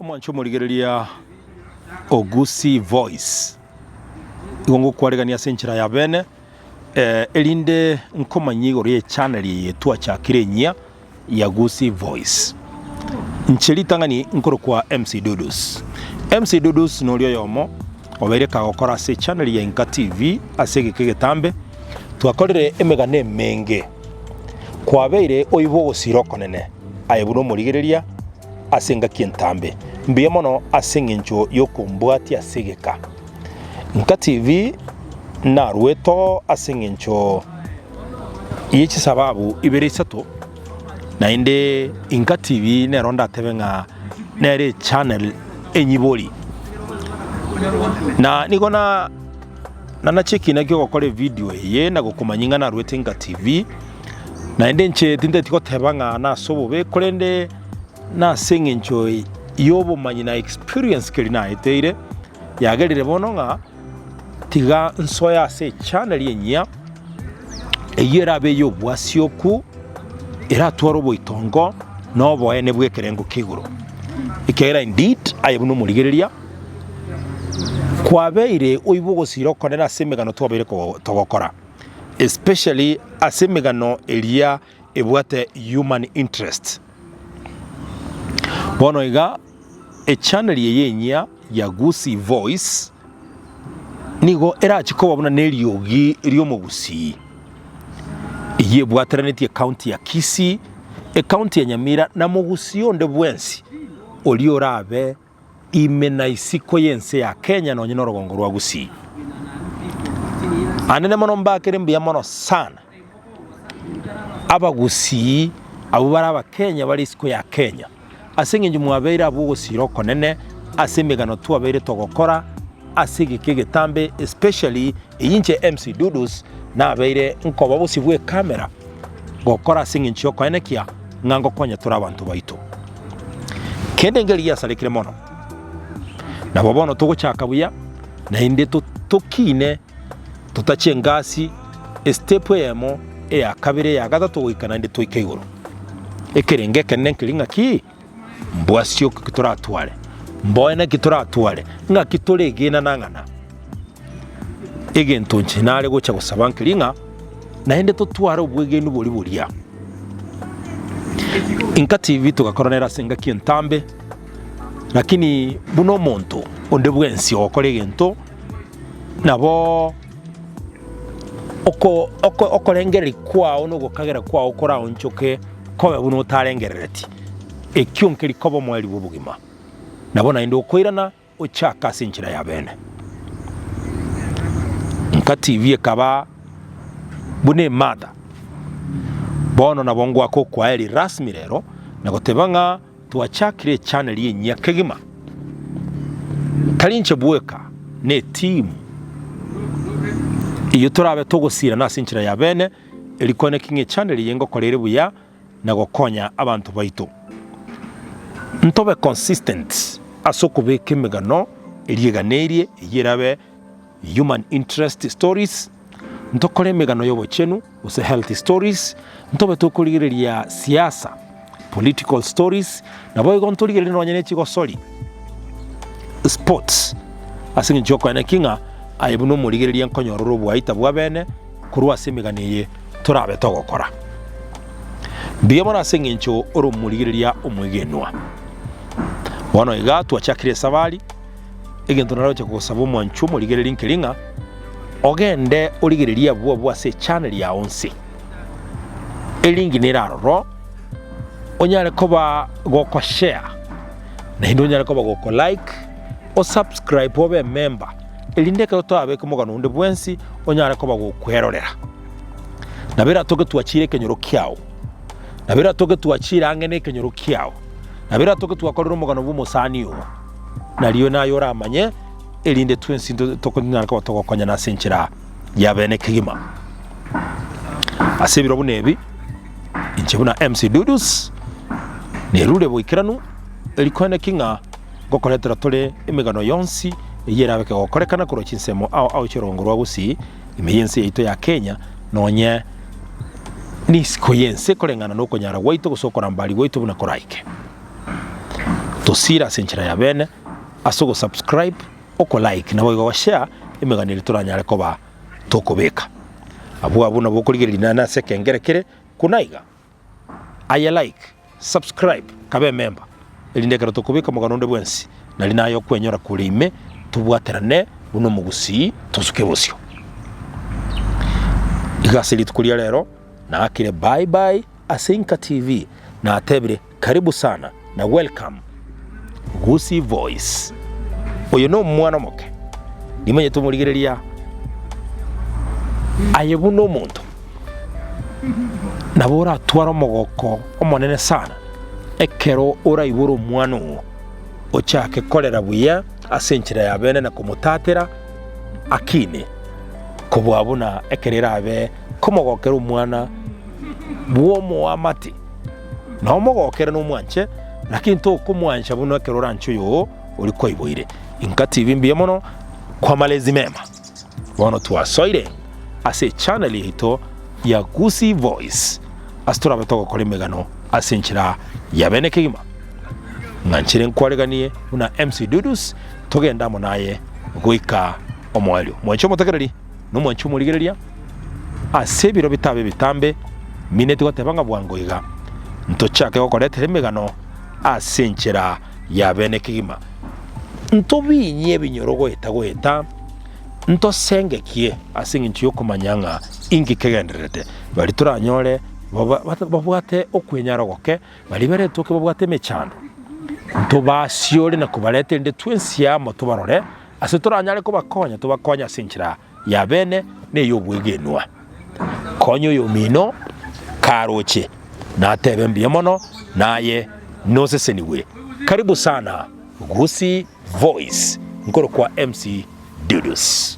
omwancho omorigereria o Gusii Voice, igo ngokwaregania ase enchera ya bene, eh, erinde nkomanyia igoro y'echannel eye twachakire enyia. ya Gusii Voice. Nche ritang'ani nkorokwa MC Dudus. MC Dudus nori oyomo obeire kagokora ase echannel ya Inka TV ase egeka egetambe. Twakorire emegano emenge. Kwabeire oibo ogosira okonene aye buna omorigereria ase engaki entambe. Mbuya mono ase eng'encho yokombwatia ase egeka. Inka TV narueto ase eng'encho ye chisababu ibere isato, naende Inka TV nero ndatebe ng'a nere echannel enyibori, na nigo na nanache ekina ki'ogokora evidio eye na gokomanyia ng'a naruete Inka TV, naende inche tinteti goteba ng'a nase obobe, korende nase eng'encho y'obomanyi na experience keria naeteire. Yagerire bono ng'a tiga nsoe ase echaneli enyia, eyio erabe ey'obwasioku, eratware oboitongo na oboene bw'ekerengo kia igoro. Ekiagera indeed, aye buna omorigereria, kwabeire oiba ogosira okonene ase emegano twabeire togokora, especially ase emegano eria. ebwate human interest. Bono iga echaneli eye enyia ya Gusii Voice nigo erache koba buna neriogi riomogusii eyio ebwateranetie ekaunti ya Kisii, ekaunti ya Nyamira na mogusii onde bwensi oria orabe. Ime na isiko y'ense ya Kenya nonye na orogongo rwa Gusii. Anene mono mbakere mbuya mono sana. Abagusii abwo bare abakenya bare isiko ya Kenya. Ase eng'encho mwabeire abwo ogosiira okonene ase emegano twabeire togokora ase egeka egetambe especially eyio inche MC Dudus nabeire nkoba bosio bw'ekamera gokora ase eng'encho y'okoenekia ng'a ngokonya tore abanto baito, kende engeri yasarekire mono. Nabo bono togochaka buya, naende tokiine totache engasi, estepu eyemo, eya kabere, eya gatato goika naende toike igoro. Ekerenge ekenene nkeri ng'aki? Mbwasio ki toratware? Mboe naki toratware? Ng'aki toregenana ng'ana? Egento inche nare gocha gosaba nkeri ng'a naende totware obwegenwa boria boria. Inka TV togakora nere ase engaki entambe, lakini buna omonto onde bwensi ogokora egento naboo oko oko okorengereria kwao na ogokagera kwao koraonchoke kobe buna otarengerereti. Ekio nkeri koba omwari bw'obogima. Nabo naende okoirana Gochaka ase enchera y'abeene. Inka TV ekaba buna emada. Bono nabo ngoaka okoaeri rasmi rero na goteba ng'a twachakire echaneri enyia kegima. Tari inche bweka, ne etimu eyio torabe togosirana ase enchera y'abeene, eri koene king'a echaneri eye ngokora ere buya, na gokonya abanto baito. Ntobe consistent ase okobeka emegano eria eganerie eyio erabe human interest stories, ntokore emegano y'obochenu gose health stories, ntobe tokorigereria siasa, political stories, naboigo ntorigererie nonya ne chigosori, sports, ase eng'encho y'okogania ki ng'a aye buna omorigereria nkonyorora oboaita bw'abene. Korwa ase emegani eye torabe togokora mbuya mono ase engencho ore omorigereria omwegenwa. Bono iga twachakire esabari, egento naroche kogosaba omwanchwa omorigereria nkeri ng'a ogende origererie abwo abwo ase echaneli yao onsi, elinki nere aroro, onyare koba gokoshare naende onyare koba gokolike, osubscribe obe ememba. erinde ekero twabeka omogano onde bwensi onyare koba gokwerorera. Nabo eratoke twachire ekenyoro kiao, nabo eratoke twachire ang'e nekenyoro kiao, nabo eratoke twakorire omogano bw'omosani oo, nario naye oramanye, erinde twensi into- toko- tonyare koba togokonyana ase enchera ya bene kegima. Ase ebiro buna ebi, inche buna MC Dudus, nerure boikeranu, eri kwene ki ng'a. ngokoretera tore emegano yonsi eyio erabe kegokorekana korwa chinsemo ao ao chi'orongo rwa gusii ime y'ense yaito ya Kenya nonye n'isiko y'ense koreng'ana nokonyara gwaito gose okorambari gwaito buna koraike. Tosiire ase enchera ya bene ase ogosubscribe, okolike naboigo ogoshare emegano eria toranyare koba tokobeka. Abwo abwo nabo okorigereria naende ase ekengere kere kona iga. Aye like, subscribe, kaba ememba, erinde ekero tokobeka omogano onde bwensi, nari naye okwenyora kore ime, tobwaterane buna omogusii, tosuke bosio. Iga ase rituko ria rero, naakire bye bye ase Inka TV, natebire karibu sana. Na welcome Gusii voice. Oyo no mwana omoke. Nimonyete omorigereria aye buna omonto. Nabo oratware omogoko omonene sana ekero oraibore omwana oo ochake korera buya ase enchera ya bene na komotatera akine kobua buna ekero erabe komogokera omwana bw'omoamate. Na omogokera nomwanche, naki ntokomwancha buna ekero oranche oyoo oria kwaiboire. Inka tibi mbuya mono kwa malezi mema. Bono twasoire ase echannel yaito ya Gusii Voice ase torabe togokora emegano ase enchera ya bene kegima. Ng'anchire nkwareganie buna MC Dudus togende amo naye goika omoerio. Mwanche omotegereri. nomwanchi omorigereria, ase ebiro bitabe ebitambe, mineti goteba ng'a bwango iga, ntochake gokoretera emegano ase enchera ya bene kegima, ntobinyie ebinyoro goeta goeta, ntosengekie ase engencho y'okomanya ng'a inki kegendererete, baria toranyore babwate okwenyara ogoke, baria bare etoke babwate emechando, ntobasiore na kobareta erinde twensi amo tobarore. Ase toranyare kobakonya, tobakonye ase enchera y'abeene na ey'obwegenwa. Konya oyomino karoche natebe mbuya mono naye nosesenigwe. Karibu sana Gusii Voice nkorokwa MC Dudus.